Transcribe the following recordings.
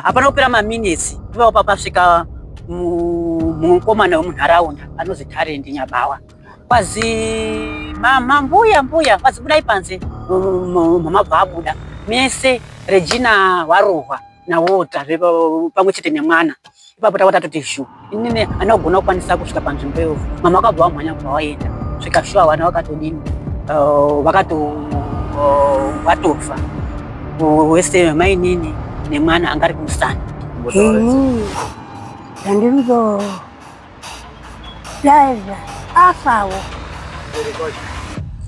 hapana kupera maminetsi ipapo papasvika mukomana wemunharaunda anozi tarendi nyabawa kwazi mama mbuya mbuya kwazi budai panze mama bvabuda mese regina warohwa nawota pamwe chete nemwana ipapo tava tatoti zhu inini ana kugona kukwanisa kusvika panzvimbo iyo mama vakabva vamhanya kubva vaenda svika shuwa vana vakatodini uh, vakato uh, vatofa wese mainini nemwana anga ari kumusana ini ndandirizo daiva afawo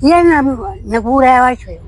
yena nekuuraya wachoyo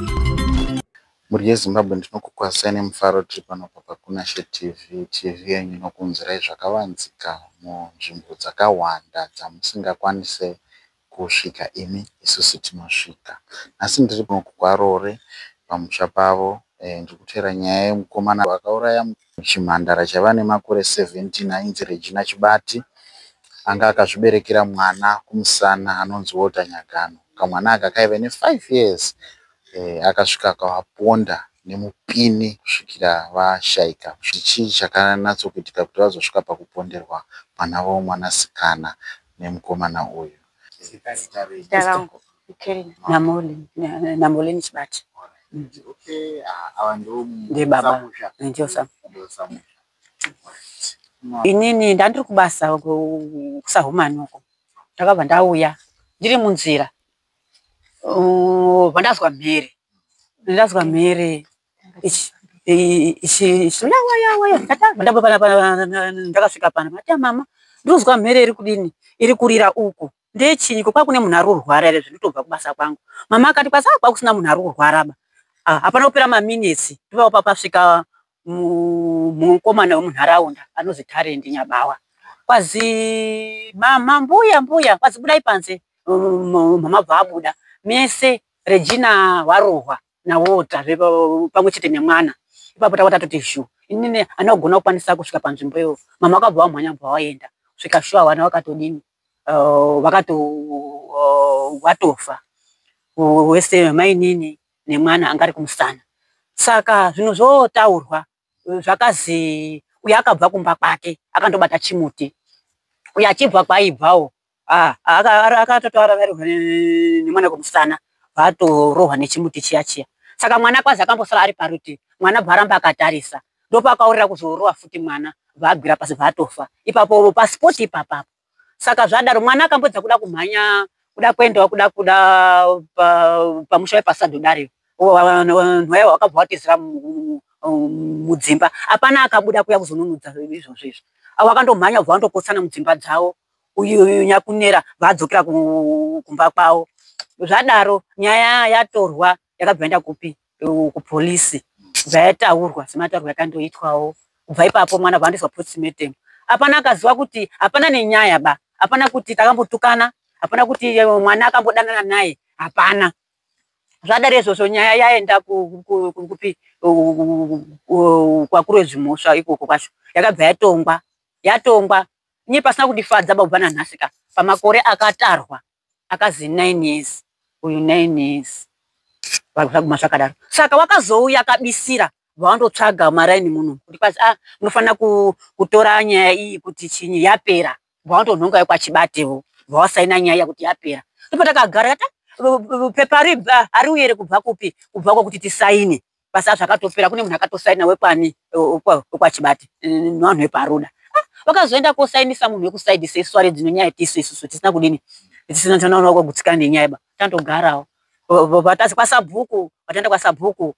Mhuri yeZimbabwe ndinokukwazisai nemufaro tiri pano paPakunashe TV, TV yenyu inokuunzirai zvakavanzika munzvimbo dzakahwanda dzamusingakwanise kusvika imi isusu tinosvika. Nhasi ndiri pano kwaRoore pamusha pavo ndiri kuteera nyaya yemukomana akauraya mukoma. Chimhandara chaiva nemakore 17 ainzi Regina Chibati anga akazviberekera mwana kumusana anonzi Walter Nyagano. Kamwana aka kaive ne 5 years eh, akasvika kavaponda nemupini kusvikira vashaika. Chii chakanatsokuitika kuti vazosvika pakuponderwa mwana wavo mwanasikana nemukomana uyu? Zita rangu Kelly Namolin na- Namolin Chibati. Mm. Okay, ah, ava ndo Ndiye baba. samusha. Ndiyo sa. Ndo samusha. Right. Ma- Inini ndandiri kubasa ku- kusahumani uko. Ndakabva ndauya ndiri munzira. Uh, Pandazwa mhere. Ndazwa mhere ndakasvika pana mati mama ndinonzwa mhere iri kudini iri kurira uku ndechinyi ko kwakune munhu ari kurwara ere zvekutobva kubasa kwangu mama akati kwasa ah, kwakusina munhu ari kurwara ba ah, hapana kupera maminitsi ndopava papasvika mukomana wemunharaunda anozi tarendi nyabawa kwazi mama mbuya mbuya kwazi budai panze mama bva abuda mese regina warohwa nawota pamwe chete nemwana ipapo tava tatoti shu inini ana kugona kukwanisa kusvika panzvimbo iyo mama akabva wamhanya bva waenda svika shu avana vakatodini uh, vakato uh, watofa wese mainini nemwana anga ari kumusana saka zvinhu zvotaurwa zvakazi uye akabva kumba kwake akandobata chimuti uye achibva kwaibvawo ah, akatotaura varohwa nemwana kumusana vatorohwa nechimuti chiya chiya saka mwana kwazi akambosara ari paruti mwana bvaramba akatarisa ndopakaurira kuzorowa futi mwana vagwira pasi vatofa ipapo pasipoti ipapapo saka zvadaro mwana akambodza kuda kumhanya kuda kuendawo kuda kuda pamusha wepasado dario nhwaya wakabva watizira mudzimba hapana akabuda kuya kuzonunudza izvozvo izvo avo akandomhanya kubva vandokotsana mudzimba dzavo uyu nyakunera vadzokera kumba kwavo zvadaro nyaya yatorwa yakabva yaenda kupi kupolisi kubva yataurwa semataurwa yakandoitwawo kubva ipapo mwana bva andoiswa postmortem hapana akaziva kuti hapana nenyaya ba hapana kuti takambotukana hapana kuti eh, mwana akambodanana naye hapana zvadari izvozvo nyaya yaenda kupi kwakuru wezvimhosva ikoko kwacho yakabva yatongwa yatongwa nye pasina kundifadza bakubva nanhasi ka pamakore akatarwa akazi nine years uyu nine years vaguma zvakadaro saka wakazouya akabisira bvawandotsvaga maraini muno kuti kwazi ah munofanira kutora nyaya iyi kuti chinyi yapera bvawantonhonga yekwachibatewo bvawasaina nyaya kuti yapera ndipo takagara ta pepa ribva ariuyere kubva kupi kubva kwakuti tisaine basa azvo akatopera kune munhu akatosaina wekwani wekwachibati nevanhu veparuda ah, vakazoenda kosainisa munhu wekusaidi sesware dzino nyaya tisu isusu tisina kudini tisina tanaona kwagutsikana nenyaya ba tandogarawo vatazi kwasabhuku vataenda kwasabhuku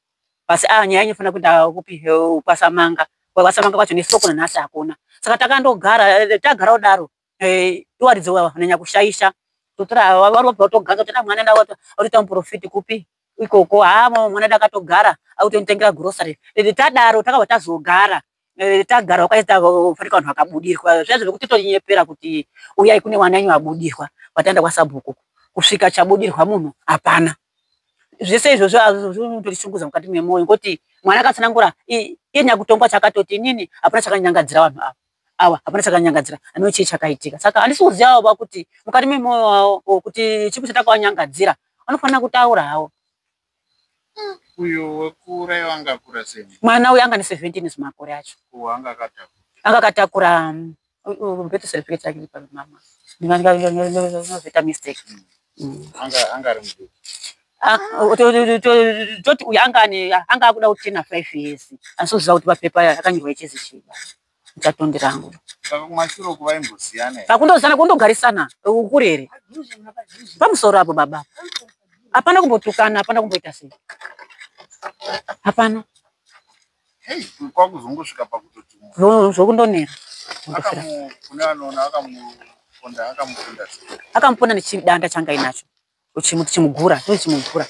basi a ah, nyaya inyofanira kuenda kupi kwasamanga kwasamanga kwacho nesoko nanhasi hakuna saka takandogara tagara kudaro eh, iwaridzi wawa nanya kushaisha totora wari wabva watoganza kuti mwana ndawo watoita muprofiti kupi ikoko haa mwana ndakatogara akutonitengera grocery eh, tadaro takabva tazogara eh, tagara wakaita fanika vanhu vakabudirwa zviya zvekuti tonyepera kuti uyai kune mwana enyu abudirwa kwataenda kwasabhuku kusvika chabudirwa munhu hapana zvese izvozvo azvozvinototisunguza mukati memoyo ngokuti mwana akatsanangura iye nyakutongwa chakatoti inini hapana chakanyangadzira vanhu ava awa hapana chakanyangadzira anoo chii chakaitika saka handisi kuziva avo vakuti mukati memoyo wavo o kuti chipi chatakawanyangadzira vanofanira kutaura havo hmm. uyo wekura iwo anga akura sei mwana uyo anga ne 17 zvimakore acho uwo anga akatakura anga akatakura um, beto certificate yake pamama ndinozoita mistake hmm. anga ari mudiki Ah, toti uyu anga akuda kuti tena five years asi uziva kuti papepa akanyorwa ichezi chiba chatondi rangu pakundozana kundogarisana ukurere pamusoro apo baba hapana kumbotukana hapana kumboita sei hapana Hey, kwakuzongosvika pakutoti munhu zvokundonera kune anoona akamuponda akamuponda akamuponda nechidanda changa inacho uchimuti chimugura ndochimugura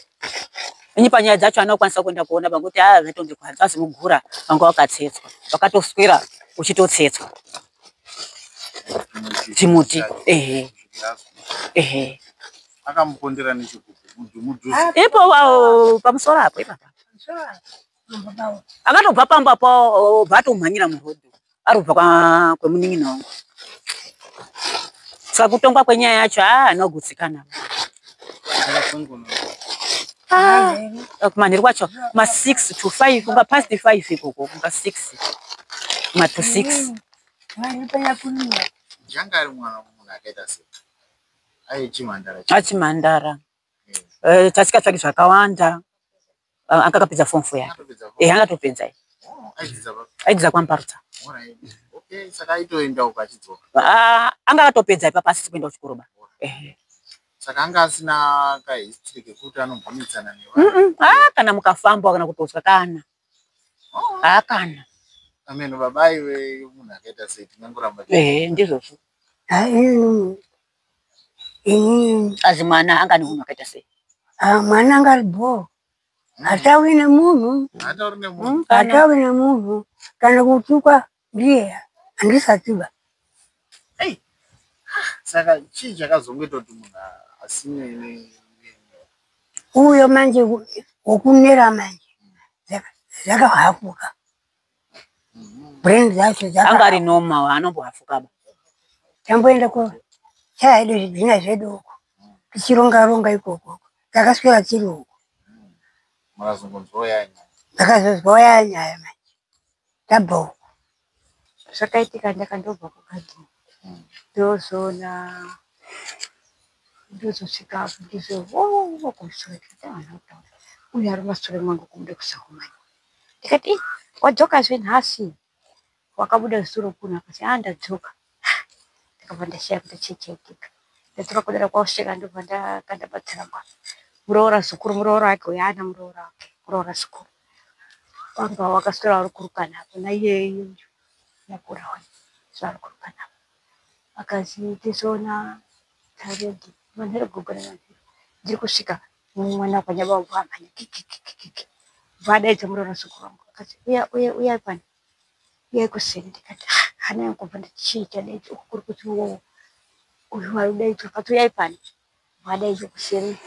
ini panyaya dzacho anokwanisa kuenda kuona panguti haa ah, zvatonge kwanza azimugura vanga wakatsetswa vakatoswera uchitotsetswa chimuti ehe ehe akamupondera nechikuku ipo pamusoro apo ipapa akatobva pamba pao bva atomhanyira muroad ari kubva kwemunin'ina wangu saka kutongwa kwenyaya yacho haa ah, anogutsikana ah, eh, kumanheru kwacho ma six to five kunga past five ikoko kunga six ma to six achimhandara eh, eh, tasikatsvaki zvakawanda Ah, anga akapedza form four yake eh anga atopedza eh. oh, aidzidza kwamparutsa ah, anga akatopedza ipapa asisi kuenda kuchikoro ba eh. saka anga asina kahistory kekuti anombunitsana nevanhu ah, kana mukafamba kana kutotswa kana oh. haa kana ameno baba iwe munhu akaita sei tinanguramba eh, ndizvozvo inini azi mwana anga ane munhu akaita sei ah, mwana anga ari bhoo hatauri nemunhu hatauri nemunhu hmm? kana kutukwa ndiye handisatiba saka chii chakazongoita kuti munhu asine uyo manje wokunera manje zvakahapuka brain dzacho anga ari noma anomboafukaba tamboenda ko chaya yedu zvidhina zvedu uko tichironga ronga ikoko takaswera tiri uko ndakazonzwa ya nyaya manje tabva uko zvakaitika ndakandobva kugadi hmm. ndozoona ndozosvika apo ndizvo oh, oh, oh, uyo ari masure mangu kumuda kusakumanya ndikati ii wadzoka zve nhasi wakabuda zuro kuno akati a ah, ndadzoka ndakabva ndasiya kuti chichaitika ndadzoka kudara kwauseka ndobva ndakanda patsiramba muroora zukuru muroora wake uyo ana muroora wake muroora zukuru kwanga wakaswera vari kurukana apo naiyeyo yakura wani zvavari kurukana apo akazi tizoona taredi manheru gogo nemanheru ndiri kusvika mwana wakwanya baba bwamhanya kikikikiki bwadaidza muroora suku rangu akati uya uya uya pano uya kuseni ndikati ah, hana yangu kubva ndichiita daidza uku kuri kuti wowo uyu wari daidza akati uya pano bwadaidza kuseni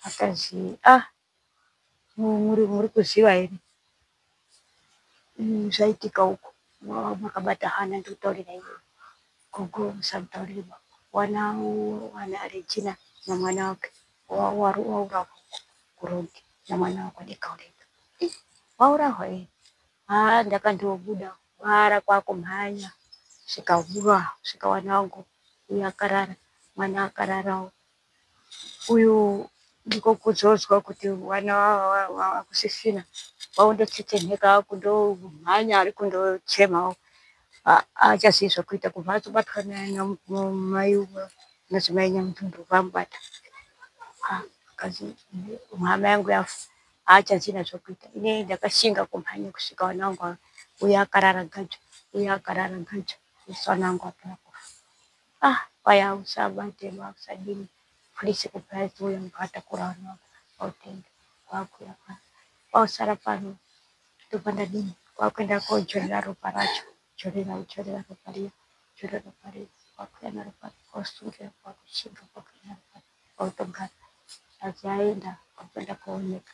akazi ah muri kuziva here mm, zvaitika uko makabata hana ndikutaurira iwe gogo musamutaurire baba wana wana arejina namwana wake waurahwa kurogi namwana wako ndikaureka eh, waurahwa e haa ndakandobuda kwara kwakumhanya svikaura svikawana wangu uyo akarara mwana akararawo uyu ndiko kuzodzwa kuti wana wakusisina wakundotetenheka wakundomhanya ari kundochemawo achazivi zvekuita kubva atobatwa namai madzimai nyamutundu vamubata akazi mhama yangu yafa aachazina zvekuita ine ndakashinga kumhanya kusvika wana wangu uyo akarara gajo uyo akarara gajo usana wangu apera kufa ah kwaya usabate usadini please kupraise uyo mbata kurana autenge kwakuya pano kwausara pano ndobva ndadini kwakuenda kodzorera ropa racho dzorera udzorera ropa riya dzorera ropa riya kwakuya naropa kwausungera kwakushinga kwakuya naropa kwautogara aziaenda kwakuenda kooneka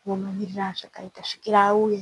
kumamirira azvakaita svikira auye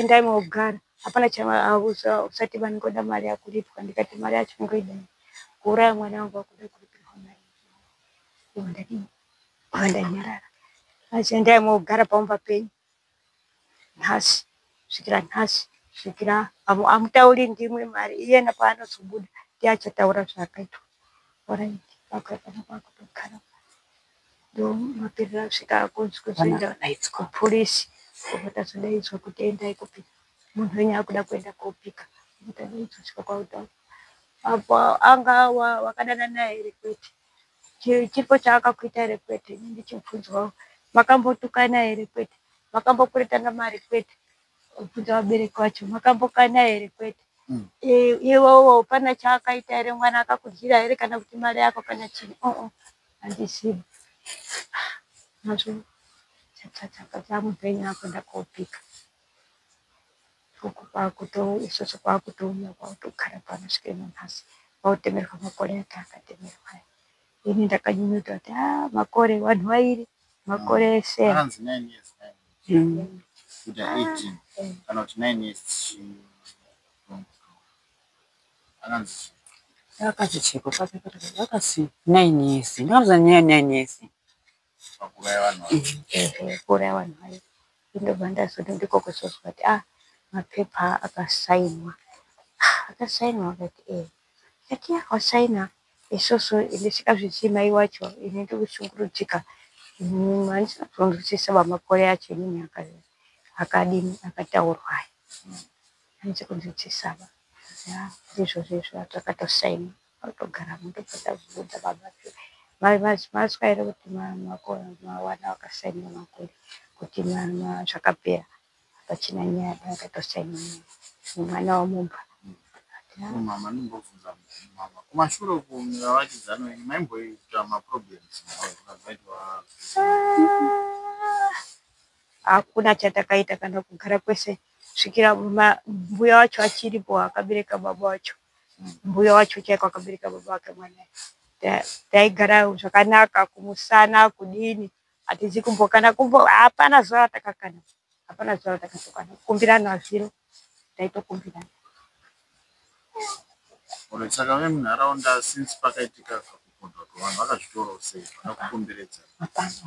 endai mogara hapana chausati vani ngoda mari yakuripwa ndikati mari yacho ngoida kuuraya mwana wangu wakuda kuripirwa mari ndadii vandanyarara asi endai mogara pamumba penyu nhasi svikira nhasi svikira amutauri ndimwe mari iyena paanozobuda ndiye achataura zvaakaitwa oraiti vakakana kwakutogara ndomaperera kusvika akunzwa zvoenda naitsi kupurisi kobata zvodaidzwa kuti endai kupi munhu wenyu akuda kuenda kopika kuti adaidzwa svika kwautaura apo anga wakadana naye iri kwete chipo chaakakuita iri kwete ini ndichibvunzwawo makambotukana iri kwete makambokuretana mari kwete kubvunza vabereki vacho makambokana iri kwete mm. iwowo pana chaakaita ere mwana akakudyira ere kana kuti mari yako kana chii uh-uh. handizivi nazvo chakachaka chamupenyu akuenda kopika uku kwakuto isvosvo kwakutouya kwakutogara pano svike nanhasi kwautemerwa makore ake akatemerwa ini ndakanyunyuta kuti a ah, makore vanhu vairi makore ese ah, mm. ah, eh. akanzi akachichekwa kwake akasi nine years ndakauza nyaya nine years pakuraya vanhu kuraya vanhu vayo ndobva ndazoda ndikokosozwa kuti ah mapepa akasainwa ah, akasainwa akati e eh. ati akasaina isoso ndisika zvichii mai wacho ini ndikushungurudzika handisina kuzonzwisisa vamakore acho inini akadini akataurwai hanzi kunzwisisaba ya ndizvo zvezvo atakatosaina otogara muto patazviudza baba maswaire kuti mawana wakasaina makore kuti zvakapera pachina nyaya akatosaina mwana wamumba mama ndimbobvunza mama kumashure uko mavakidzano ini maimboita maproblems akaitwa hakuna chatakaita kana kugara kwese ah, kusvikira mbuya wacho achiripo akabereka baba wacho mbuya wacho chaiko akabereka baba wake mwana taigara zvakanaka kumusana kudini hatizi kumbokana kumbo hapana zuva ratakakana hapana zuva ratakatokana kukumbirana zviro taitokumbirana Alright, saka vemunharaunda since pakaitika kakupondwa kwevanhu vakazvitorawo sei vakakukomberedza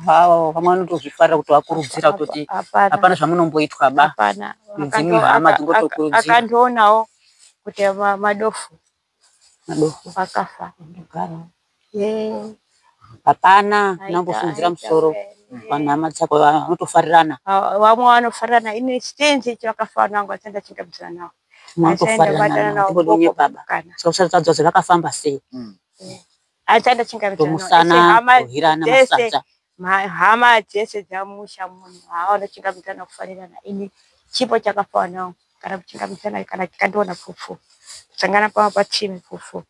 Wow, vamwe vanotozvifarira kuti vakurudzira kutoti Hapana. hapana zvamunomboitwa ba Hapana. Dzimwe Akando- hama aka- dzingotokurudzira. aka- Akandionawo kuti ma- madofu madofo akafa. kugara hapana unongofungira musoro vanhama dzako vanotofarirana vamwe vanofarirana ini chitenzi ichi vakafanira vangu vasati ndachingambidzana navo vanotofarirana navo usatadzwa kuti vakafamba sei asati ndachingambidzana navohirana masadza hama dzese dzamusha munhu havanochingambidzana kufarirana ini chipo chakafanira vangu kana kuchingambidzana kana tikandiona pfufu kusangana pavo patsime pfufu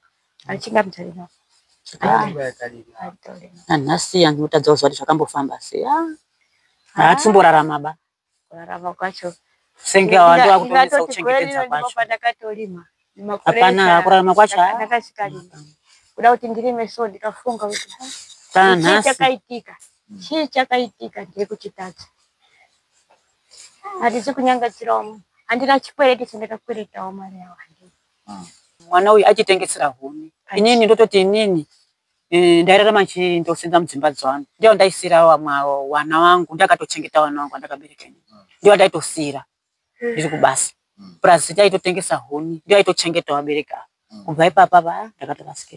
anhasi ah. yanhu utadza kuziva kuti zvakambofamba sei ah. haatimborarama ba kurarama kwacho senge awandu akutonesa kuchengetedza kwacho hapana kurarama kwacho kuda kuti ndirime so ndikafunga kuti tanhasi chakaitika chii chakaitika ndiri kuchitadza hatisi kunyangadzirawo handina chikwereti chandakakweretawo mari yawo ah. mwana uyu achitengesera huni inini ndototi inini eh, ndairarama chii ndosenza mudzimba dzangu ndiyo ndaisira wana wangu ndakatochengeta wana wangu andakabereka inini ah. ndiyo ndaitosira ndiri kubasa hmm. plus ndaitotengesa huni ndiyo aitochengeta wabereka hmm. kubva ipapa va ndakatorasika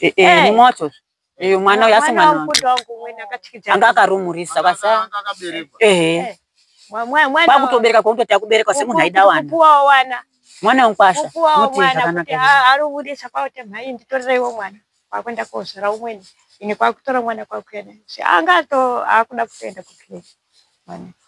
Eh, eh, mumwe wacho eh, mwana uyu asi mwana wangu anga akarumurisa kwasa ehe kwakutobereka kwakuti takubereka semunhu aida wana mwana wangu kwasa uti zvakanaka arubudisa kwakuti mhai nditoreiwo mwana kwakuenda kozvara umweni ini kwakutora mwana kwakuenda anga ato akuda kutoenda kuclinic mwana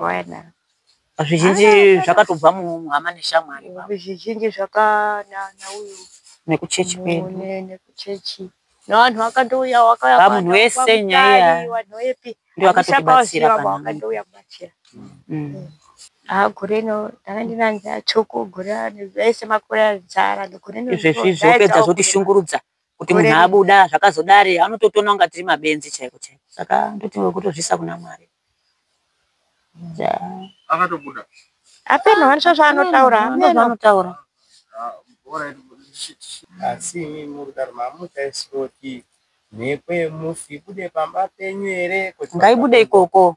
Wena. Zvizhinji ah, zvakatobva muhama neshamwari. Zvizhinji zvakanana uyu. Nekuchechi kwedu. Nekuchechi. Nevanhu vakatouya wakaya. Pamunhu wese nyaya. Vanhu wepi. Ndiyo akatotibatsira pano. Vakatouya kubatsira. Mm. Ah, gore ino ndanga ndinanzi atsvuku gore ane zvese makore azara. Gore ino. Izvezvi zvopedza zvotishungurudza. kuti munhu abuda zvakazodari anototoona kunga tiri mabenzi chaiko chaiko saka ndoti wekutozvisa kuna mwari akatobuda apeno vanisva zvaanotaura anotaura asi imi muri kudaro mamutaisiroti mhepo yemufi ibude pamba penyu here ngaibude ikoko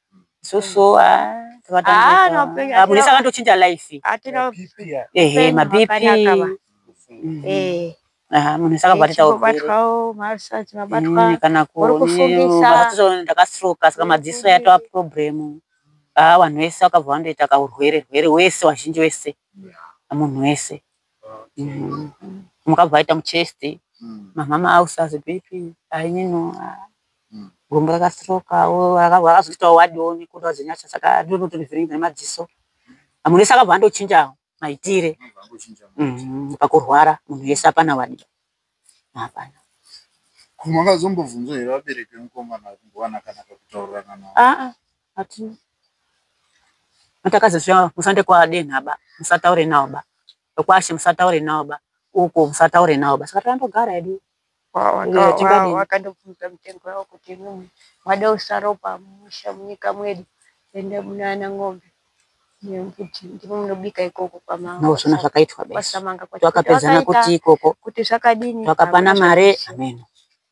sosoa munhu akatochinja life ehe mabp munhu sakabva titaurndakastroka saka madziso yatova problem haa vanhu vese vakabva vandoita kaurwere rwere wese wazhinji wese munhu wese mukabva vaita muchest mamama ausazi bp ainino gumbo rakastrokawo rakazoitawo wadiwo nekuda kwezinyasha saka ndinotonivhiringa nemadziso munhu wese akabva andochinja maitire mm, pakurwara munhu wese apana wadiwa hapana kumwe akazombobvunza here vabereki vemukomana kumbowana kana kakutaurirana navo aa ah, ah, hatina matakazosvia musande kwadenhaba musataure nawo ba Kwashe musataure nawo ba. Uko musataure nawo ba. Saka tandogara hedu. Wakandobvunza mutengo yawo kuti imimi mwada usaropa musha munyika mwedu ende munana ng'ombe nekuti ndimo munobika ikoko kwamangosona zvakaitwa besa twakapedzana kuti ikoko kuti zvakadini twakapana mare ameno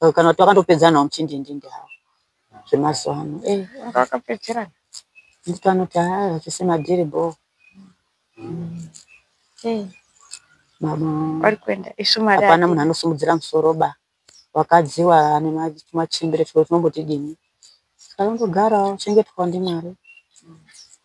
eh, kana kuti vakandopedzanawo muchindindindi hawo zvemazuva ano eh, vakapedzerana nditi vanoti haa vachise madhiri bo eh, vari kuenda isu mari hapana munhu anosimudzira musoro ba wakadziwa ane machimbire tiko tinombotidini saka ndogarawo chengetwa ndimwari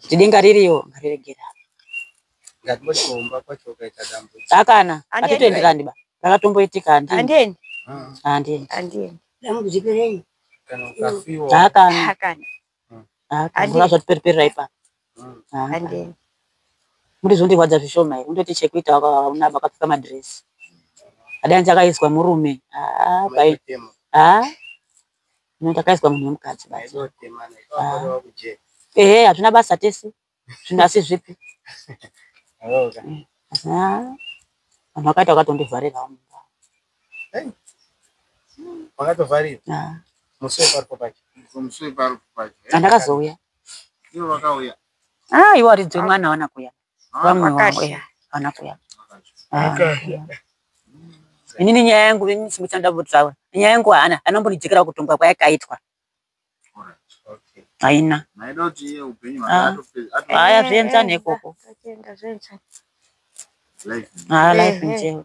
kuti denga ririyo ngariregera akana atitoenderani ba rakatomboitika handiendi handiendi handiendi dambudzikirenyi akana akana akana zvatiperipera ipa handiendi muri zvondirwadza zvishoma here undoti chekuita una vakapfeka madhiresi adanzi akaiswa murume haa haa Munhu takaiswa munhu wemukadzi basi. Ah. Ehe hatuna basa tese. Zvinhu asi zvipi? Mm. Ah. Vanhu vakaita vakatondivarirawo mumba. Vakatovharira? Ah. Musi weparipo pacho. Musi weparipo pacho. Andakazouya. Ivo vakauya. Ah, ivo aridzwe mwana wana kuya. vamwe wangu ya vana kuya ini ni nyaya yangu ini simuchanda butsawe nyaya yangu hana anombonijikira kutongwa kwayakaitwa haina haya zvienzane ikoko ha life nje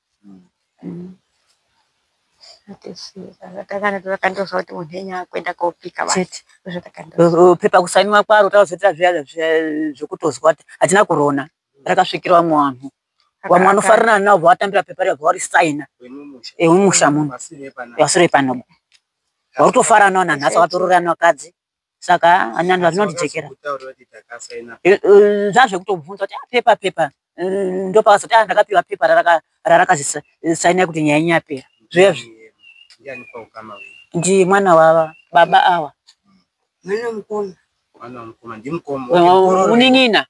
mm. takandozva kuti munhu enyu akuenda kopika pepa kusainiwa kwaro takazoita zviya zvekutozwa kuti hatina kurona rakasvikira vamwe vanhu vamwe vanofarirana navo vatambira pepa riya vavarisaina emumusha muno vasiro epanobo vakutofaranawo nanhasi vakatororanwa kadzi saka hanya vanhu varinondijekera zvazvekutobvunza kuti apepa ah, pepa mm, ndopakazoti a ah, ndakapiwa pepa rarakazisaina kuti nyaya inyapera zvezvi ndi mwana wava baba awa mwana mukoma unin'ina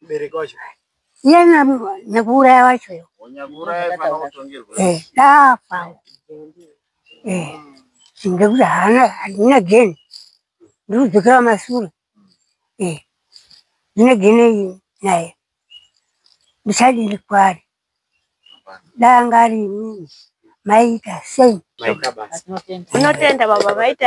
mubereki wacho iye nyakuuraya wacho yo dafa ndekuti haana handina geni ndiri kudzokera masure ndine geni naye ndichadiri kwari danga ari imini maita sei unotenda baba maita